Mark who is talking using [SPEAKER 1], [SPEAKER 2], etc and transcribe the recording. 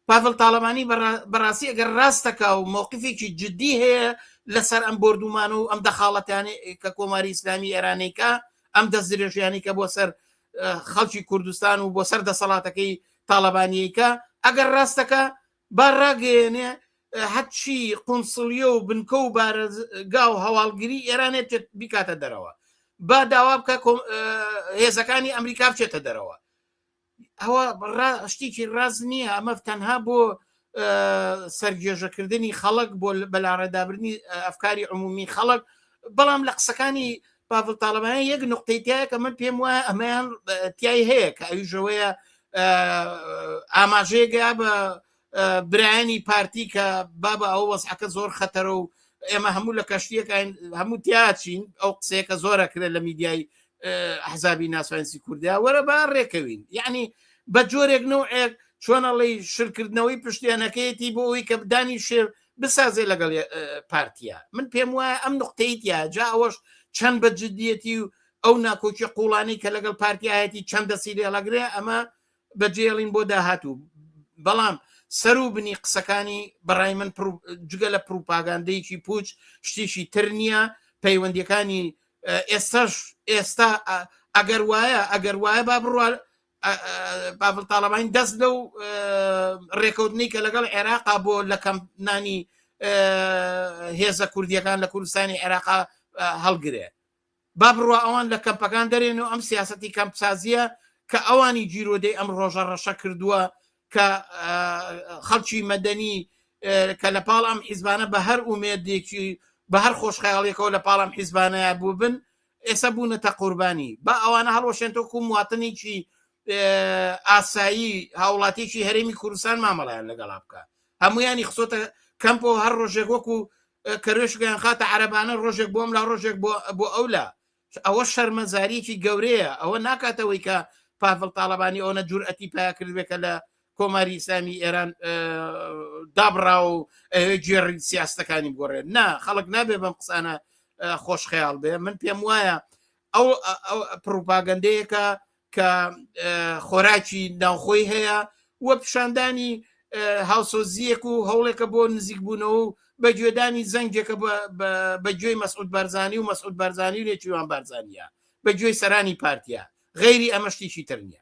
[SPEAKER 1] پاڤل تاڵەبانی بەڕاستی ئەگەر ڕاستەکا و مۆقفێکی جددی هەیە لەسەر ئەم بردومان و ئەم دەخاڵەتیانی کە کۆماری ئیسلامی ئێرانەیکە ئەم دەست درێژیانی کە بۆ سەر خەڵکی کوردستان و بۆ سەر دەسەڵاتەکەی تاالبانیەکە ئەگەر ڕاستەکە با ڕاگەیەنێ هەرچی قونسڵیە و بنکە و بارەگا و هەواڵگیری ئێرانێ بیکاتە دەرەوە با داوا بکە هێزەکانی ئەمریکا بچێتە دەرەوە ئەوە شتێکی ڕاز نییە ئەمە تەنها بۆ سەرگێژەکردنی خەڵک بۆ بەلاڕێدابرنی ئەفکاری عمومی خەڵک بەڵام لە قسەکانی پاڤل تاالبانە یەک نقطەی تایە کە من پێم وایە ئەمەیان تای هەیە کە ئەویژەوەیە ئاماژەیەگە بە برایانی پارتی کە بابە ئەو وەزعەکە زۆر خەتەرە و ئێمە هەموو لە کەشتیەکان هەموو تیاچین ئەو قسەیەکە زۆرە کرێت لە میدیای حزابی ناسوانسی کوردیا وەرە با ڕێکەوین یعنی بە جۆرێک نوعێک چۆنەڵی شرکردنەوەی پشتێنەکەیەتی بۆ ئەوی کە بدانی شێر بسازێ لەگەڵ پارتیا من پێم وایە ئەم نقطەی تیا جا ئەوەش چەند بە جددیەتی و ئەو ناکۆکی قوڵانی کە لەگەڵ پارتیایەتی چەندە سیری هەڵەگرێ ئەمە بەجێڵین بۆ داهاتوو بەڵام سەرو بنی قسەکانی بەڕای من جگە لە پروپاگاندەیەکی پوچ شتیشی تر نییە پەیوەندیەکانی ئێستاش ئێستا ئەگەر وایە ئەگەر وایە با بڕوە باڤل تاالبانی دەست لەو ڕێکەوتنی کە لەگەڵ عێراقا بۆ لە کەم نانی هێزە کوردیەکان لە کوردستانی عێراقا هەڵگرێ با بڕوا ئەوان لە کەمپەکان دەرێن و ئەم سیاسەتی کەمپسازییە کە ئەوانی گیرۆدەی ئەم ڕۆژە ڕەشە کردووە کە خەڵکی مەدەنی کە لە پاڵ ئەم حیزبانە بە هەر ئومێدێکی بە هەر خۆشخەیاڵیەکەەوە لە پاڵم حیزبانەیە بوو بن ئێستا بوونەتە قوربانی با ئەوانە هەڵوەشێنتۆکو مواتنێکی ئاسایی هاوڵاتێکی هەرێمی کوردستان مامەڵیان لەگەڵا بکە هەمویانی خسۆتە کەمپەوە هەر ڕۆژێک وەکو کەروێشکیان خاتە عەرەبانە ڕۆژێک بۆم لا ڕۆژێک بۆ ئەو لا ئەوە شەرمەزاریی گەورەیە ئەوە ناکاتەوەی کە پافل تاالبانی ئەوە جورئەتی پیا کردێکە لە کۆماری ئسلامی ئێران دابڕا و گێڕی سیاستەکانی گۆڕێ نا خەڵک نابێ بەم قسانە خۆشخەیاڵ بێ من پێم وایە ئەو پروپاگەندەیەکە کە خۆراکی ناوخۆی هەیە و پیشاندانی هاوسۆزیەک و هەوڵێکە بۆ نزیکبوونەوە و بە گوێدانی زەنگێکە بە گوێی مەسعود بارزانانی و مەسعود بارزانانی و نێچیوان بارزانانە بە گوێی سەرانی پارتیا غەیری ئەمە شتێکی تر نیە